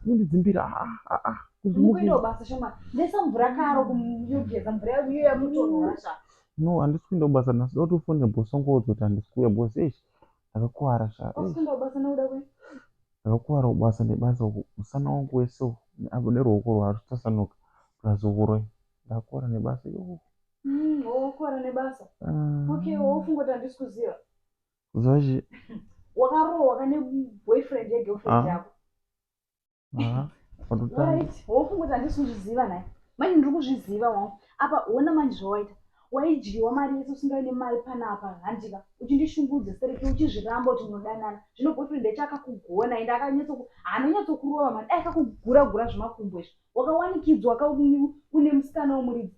kundidzimbira no handisi kuenda kubasa nhasi dotofone bhosongodzoti handisi kuuya bhos eish Ndakakuvara sha. Wakusanda kubasa nakuda kwe. Ndakakuvara kubasa nebasa uku. Musana wangu wese uku. Apo neruoko rwaro tutasanuka. Plus ukuroi. Ndakakuvara nebasa yoo. Mm, oh, wakuvara nebasa. Uh, okay, wofunga kuti handisi kuziva. Kuziva chi? Wakarohwa kane boyfriend yegirlfriend ah. yako. wofungoti handisi kuzviziva nhai manje ndiri kuzviziva wangu apa hona manje zvawaita waidyiwa mari yese usingavi nemari panapa handika uchindishungudza sereke uchizviramba kuti munodanana zvino boyfriend echo akakugona ende akanyatsokurova mari dai akakugura gura zvemakumbo izvo wakawanikidzwa une musikana womuridzi